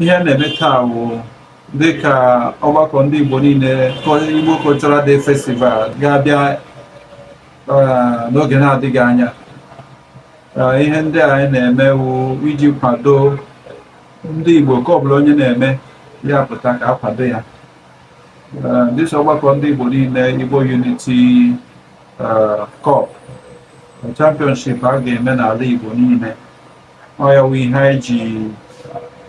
ihe a na-eme taa bụ dịka ọgbakọ ndị Igbo niile Igbo Cultural Day Festival ga-abịa eh, n'oge na-adịghị anya eh, ihe ndị anyị na-eme wụ iji kwado ndị Igbo nke ọbụla onye na-eme ya pụta ka a kwado ya eh, this ọgbakọ ndị Igbo niile Igbo Unity Cup championship a ga-eme n'ala Igbo niile ọ ya wụ ihe anyị ji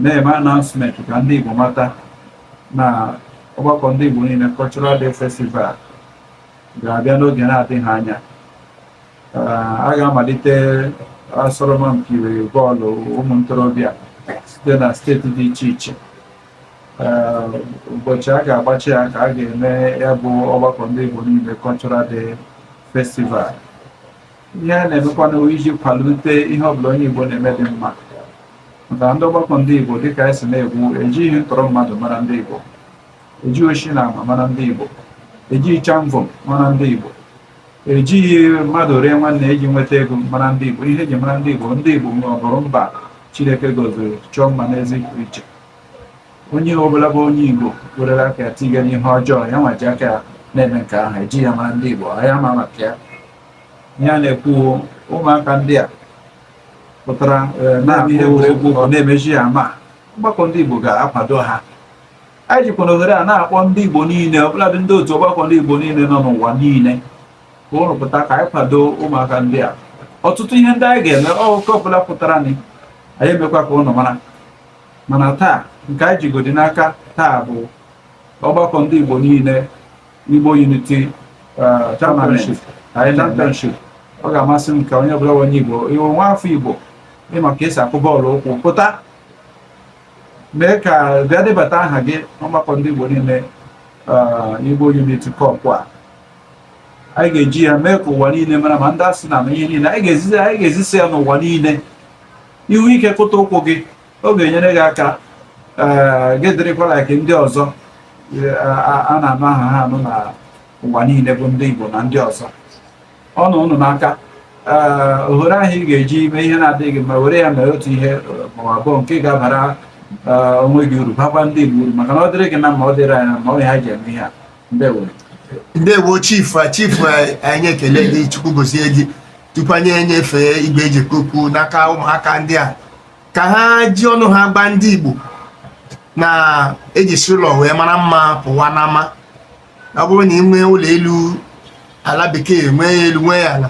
na-eme announcement ka ndị Igbo mata na ọgbakọ ndị Igbo niile Cultural Day Festival ga-abịa n'oge na-adịghị anya a ga-amalite asọrọmpi bọọlụ ụmụ ntorobịa site na steeti dị iche iche ụbọchị a ga-agbachi ya ka a ga-eme ya bụ ọgbakọ ndị Igbo niile Cultural Day Festival ihe a na-emekwanụ iji kwalite ihe ọbụla onye Igbo na-eme dị mma maka ndị ọgbakọ ndị Igbo dịka anyị si na-ekwu ejighị ntọrọ mmadụ mara ndị Igbo ejighị oshi na ama mara ndị Igbo ejighị chamvọ mara ndị Igbo ejighị mmadụ ree nwanne eji nweta ego mara ndị Igbo ihe eji mara ndị Igbo ndị Igbo nwe ọbụrụ mba Chineke gọziri chọọ mma n'ezi iche onye ọbụla bụ onye Igbo werere aka ya tiga n'ihe ọjọọ ya nwa ji aka ya na-eme nke ahụ ejighị ya mara ndị Igbo ya ma maka ya ihe a na-ekwu ụmụaka ndị a pụtara eh, na-abụ ihe egwuregwu ọ na-emechi ya ma ọgbakọ ndị Igbo ga-akwado ha anyị jikwanụ ohere a na-akpọ ndị Igbo niile ọbụladị ndị otu ọgbakọ ndị Igbo niile nọ n'ụwa niile ka ụnụ pụta ka anyị kwado ụmụaka ndị a ọtụtụ ihe ndị anyị ga-eme nke ọbụla pụtaranị anyị emekwa ka ụnụ mara mana taa nke anyị jigodi n'aka taa bụ ọgbakọ ndị Igbo niile Igbo Unity uh, Tournament anyị championship ọ ga-amasị m ka onye ọbụla onye Igbo ị wụ nwa afọ Igbo ị ma ka esi akụ bọọlụ ụkwụ pụta mee ka bịa debata aha gị ọgbakọ ndị Igbo niile uh, Igbo Unity Cup a anyị ga-eji ya mee ka ụwa niile mara ma ndị asị na ihe niile anyị ga-ezisa ya n'ụwa niile ihu ike kụta ụkwụ gị ọ ga-enyere gị aka ee gị dịrịkwala ka ndị ọzọ e, a- a a na-anụ aha ha anụ na ụwa niile bụ ndị Igbo na ndị ọzọ ọ nọ ụnụ n'aka ee ohere ahụ ị ga-eji eme ihe na-adịghị mma were ya mee otu ihe ma ọ abụọ nke ga-abara ee, onwe gị uru bakwa ndị Igbo uru maka na ọ dịrị gị na mma ọ dịrị anyị na mma ọ ya ji eme ihe a ndewo ndewo chief a chief a- anyị ekele gị Chukwu gozie gị tupu anyị enyefe igwe eji ekwu okwu n'aka ụmụaka ndị a ka ha ji ọnụ ha gwa ndị Igbo na eji esi ụlọ wee mara mma pụwa n'ama ọ bụrụ na ị nwee ụlọ elu ala bekee nwee elu nwee ala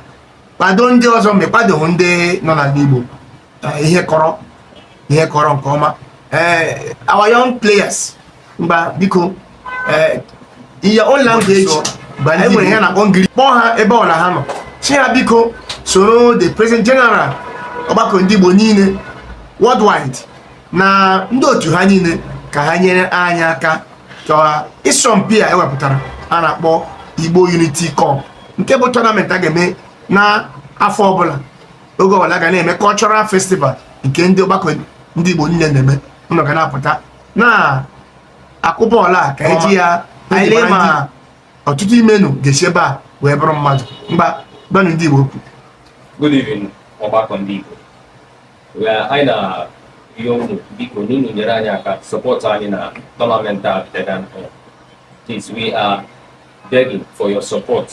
kwado ndị ọzọ ma ịkwadoghị ndị nọ n'ala Igbo ihe kọrọ ihe kọrọ nke ọma ee eh, our young players ngwa biko eh, in your own language anyị nwere ihe a na-akpọ ngiri kpọọ ha ebe ọbụla ha nọ sị ha biko soro the president general ọgbakọ ndị Igbo niile worldwide na ndị otu ha niile ka ha nyere anyị aka ka ịsọmpi a ewepụtara a na-akpọ Igbo Unity Cup nke bụ tournament a ga-eme na afọ ọbụla oge ọbụla a ga na-eme cultural festival nke ndị ọgbakọ ndị Igbo niile na-eme unu ga na-apụta na-akụ bọọlụ a ka eji ya anyị lee ma ọtụtụ n'ime unu ga-esi ebe a wee bụrụ mmadụ ngwa gwanụ ndị Igbo okwu good evening ọgbakọ ndị Igbo anyị na-arịọ unu biko na unu nyere anyị aka sọpọtụ anyị na tọnamenti a bidoro please we are begging for your support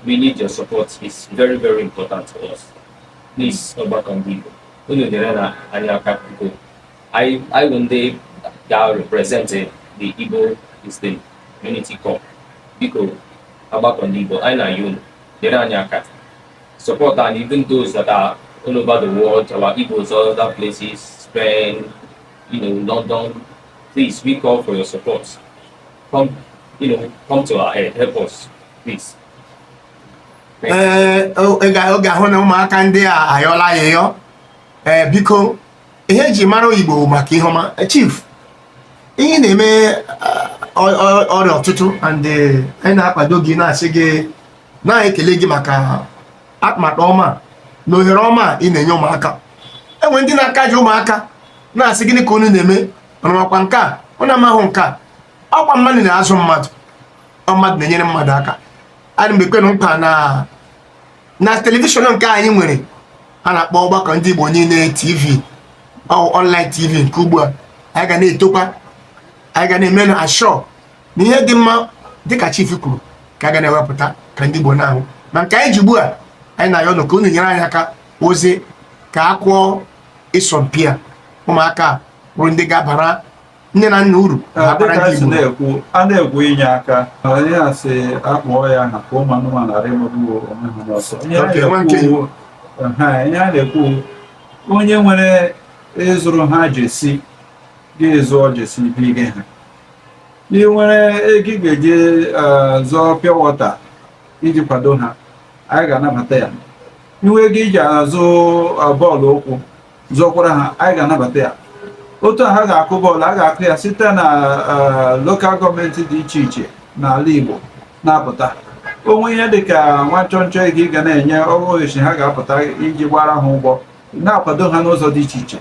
we need your support it's very very important to us please ọgbakọ ndị Igbo unu nyerenụ anyị aka biko anyị anyị bụ ndị ga-represent the Igbos in the Unity Cup biko ọgbakọ ndị Igbo anyị na-ayọ unu nyere anyị aka support anyị even those that are all over the world our Igbos all other places Spain you know London please we call for your support come you know come to our aid help us please ee eh, unu ga-ahụ na ụmụaka ndị a ayọla ayịyọ ee eh, biko ihe eji mara onye Igbo bụ maka ihe ọma eh, chief ihe ị na-eme eh, ọrịa ọtụtụ and eh, anyị na-akwado gị na-asị gị na-ekele gị maka atụmatụ ọma na ohere ọma ị na-enye ụmụaka e nwere ndị na-aka ji ụmụaka na-asị gịnị ka unu na-eme unu makwa nke a unu amahụ nke a ọkwa mmadụ na-azụ mmadụ mmadụ na-enyere mmadụ aka ana m ekwe unu nkwa na na telivishọn nke anyị nwere a na-akpọ ọgbakọ ndị Igbo niile TV online TV nke ugbu a anyị ga na-etokwa anyị ga na-eme ensure na ihe dị mma dịka chief kwuru ka a ga na-ewepụta ka ndị Igbo na-ahụ ma nke anyị ji ugbu a anyị na-ayọ unu ka unu nyere anyị aka ozi ka a kụọ ịsọmpi a ụmụaka bụrụ ndị ga-abara nne na nna uru na-ekwu a na-ekwu inye aka anyị asị akpọọ ya aha ka ụmụ anụmanụ ghara ịmagbu onwe ha n'ọsọ ihe a na-ekwu onye nwere ịzụrụ ha jersey gaa zụọ jersey bige ha ị nwere ego ị ga-eji e, zụọ pure water iji kwado ha anyị ga-anabata ya ị nwee ego iji azụ e, bọọlụ ụkwụ zọkwara ha anyị ga-anabata ya otu a ha ga-akụ bọọlụ a ga-akụ ya site na eh, lokal gọọmenti dị iche iche n'ala Igbo na-apụta o nwe ihe dị ka nwa nchọnchọ ego ị ga na-enye o ruo ụbọchị ha ga-apụta iji gbara ha ụgbọ na-akwado ha n'ụzọ dị iche iche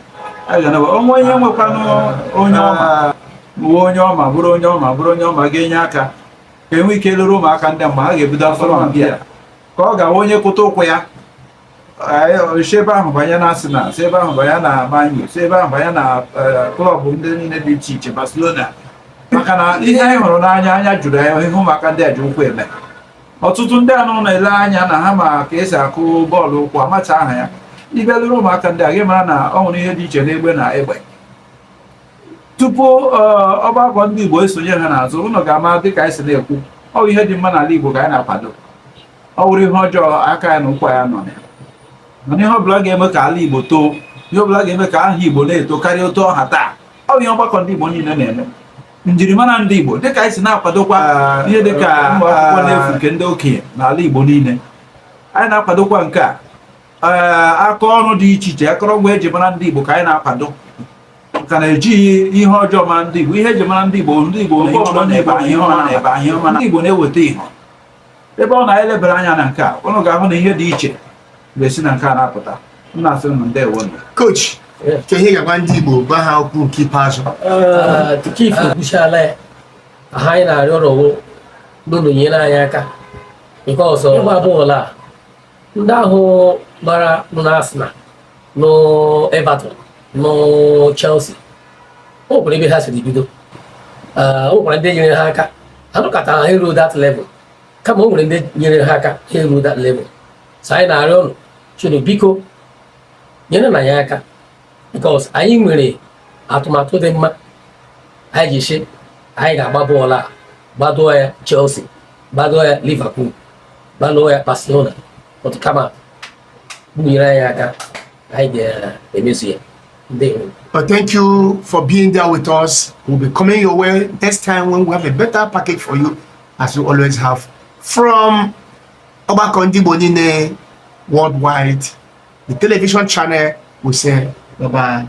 o nwe ihe nwekwanụ onye ọma onye ọma bụrụ onye ọma bụrụ onye ọma ga-enye aka ka e nwee ike lere ụmụaka ndị mgbe ha ga-ebido asọmpi a ka ọ ga-awụ onye kụta ụkwụ ya si ebe ahụ banye na Arsenal si ebe ahụ banye na Man U si ebe ahụ banye na klọb ndị niile dị iche iche Barcelona maka na ihe anyị hụrụ n'anya anya juru ya ihe ụmụaka ndị a ji ụkwụ eme ọtụtụ ndị ụnụ na-ele anya na ha ma ka e si akụ bọọlụ ụkwụ amachaha ya ị bịa lere ụmụaka ndị a gị mara na ọ nwere ihe dị iche n'egbe na egbe tupu uh, ọgbakọ ndị Igbo esonye ha n'azụ ụnụ ga-ama dịka anyị si na-ekwu ọ ihe dị mma n'ala Igbo ka anyị na-akwado ọ wụrụ ihe ọjọọ aka ya na ụkwụ ya anọ ya mana ihe ọbụla ga-eme ka ala Igbo too ihe ọbụla ga-eme ka aha Igbo na-eto karịa otu ọ ha taa ọ bụ ihe ọgbakọ ndị Igbo niile na-eme njirimara ndị Igbo dịka anyị si na-akwadokwa ihe dịka akwụkwọ n'efu nke ndị okenye n'ala Igbo niile anyị na-akwadokwa nka aka ọrụ dị iche iche akọrọngwa eji mara ndị Igbo ka anyị na-akwado ka na ejighị ihe ọjọọ mara ndị Igbo ihe eji mara ndị Igbo ndị Igbo na-eweta ihe ebe ọ na-elebara anya na nke a ụnụ ga-ahụ na ihe dị iche ga-esi na nke a na-apụta m na-asị ụnụ ndewo coach kaa ihe ị ga-agwa ndị Igbo gwa ha okwu nke ikpeazụ tupu chief ekwuchala ya ihe anyị na-arịọ arịọ wụ ụnụ nyere anyị aka nke ọzọ ịgba bọọlụ a ndị ahụ gbara nọ na Arsenal nọ Everton nọ Chelsea o nwere ebe ha siri bido o nwekwara ndị nyere ha aka ha anọkataha ruo that level kama o nwere ndị nyere ha aka ha eruo that level so anyị na-arịọ ụnụ chụrụ biko nyerenụ anyị aka because anyị nwere atụmatụ dị mma anyị ji sị anyị ga-agba bọọlụ a gbaruo ya Chelsea gbaruo ya Liverpool gbalụọ ya Barcelona otu kama nyere anyị aka anyị ga-emezu ya But thank you for being there with us. We'll be coming your way next time when we have a better package for you, as we always have. From Obakondi Bonine Worldwide, the television channel, we say bye bye.